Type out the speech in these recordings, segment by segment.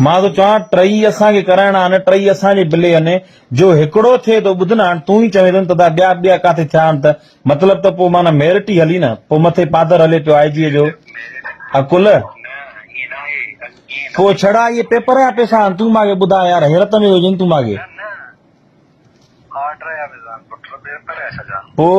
مان ٿو چوان ٽئي اسان کي ڪرائڻا آهن ٽئي اسان جي بلي آهن جو هڪڙو ٿئي ٿو ٻڌ نه هاڻ تون ئي چوين ٿو نه ته ادا ٻيا ٻيا ڪاٿي ٿيا آهن ته مطلب ته پوء معنيٰ ميرٽ ئي هلي نه پوء مٿي پادر هلي پيو آء جي جو عقل پوء ڇڙا اهي پيپر جا پيسا آهن تون ماڳي ٻڌاء يار حيرت ۾ هجين تون ماڳي پوء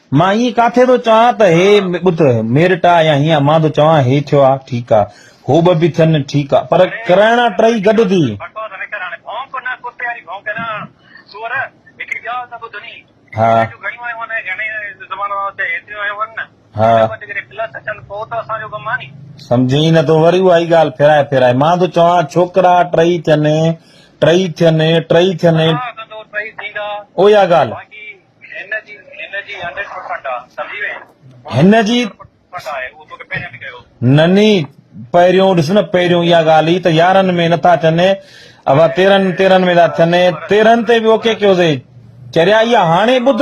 مان ائين ڪاٿي ٿو چوان ته هي ٻڌ، ميرٽ آ يا هيئن امان ٿو چوان هي ٿيو آ ٺيڪ آ، هو ٻه به ٿين ٺيڪ آ، پر ڪرائڻا ٽئي گڏ ٿي. سمجهين ئي نه ٿو وري اها ئي ڳالهه ڦيرائي ڦيرائي مان ٿو چوان ڇوڪرا ٽئي ٿين، ٽئي ٿين، ٽئي ٿين، اها ڳالهه. هن جي نني پهريون ڏس نه پهريون اها ڳالهه ئي ته يارهن ۾ نٿا اچن اوا تيرهن تيرهن ۾ ٿا ٿن تيرهن تي به اوڪي ڪيو سي چريا اها هاڻي ٻڌ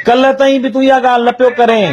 ڪلهه تائين به تون اها ڳالهه نه پيو ڪرين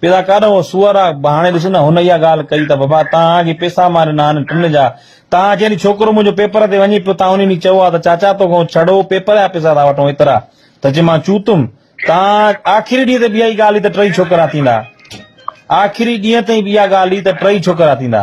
پيدا ڪر اهو سوئر آ هاڻي ڏس نه هن اها ڳالهه ڪئي ته ببا تان اڳي پيسا ماري نه هن ٽن جا تان اچي ني ڇوڪرو منهنجو پيپر تي وڃي پيو تان انهي ني چئو آ ته چاچا تو کان ڇڙو پيپر جا پيسا ٿا وٺون ايترا ته چي مان چوتم تان آخري ڏينهن تي به اهي ڳالهه هئي ته ٽئي ڇوڪرا ٿيندا آخري ڏينهن تائين به اها ڳالهه هئي ته ٽئي ڇوڪرا ٿيندا.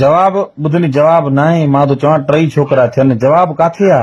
جواب، ٻڌني جواب ناهي مان ٿو چوان ٽئي ڇوڪرا ٿين جواب ڪاٿي آ.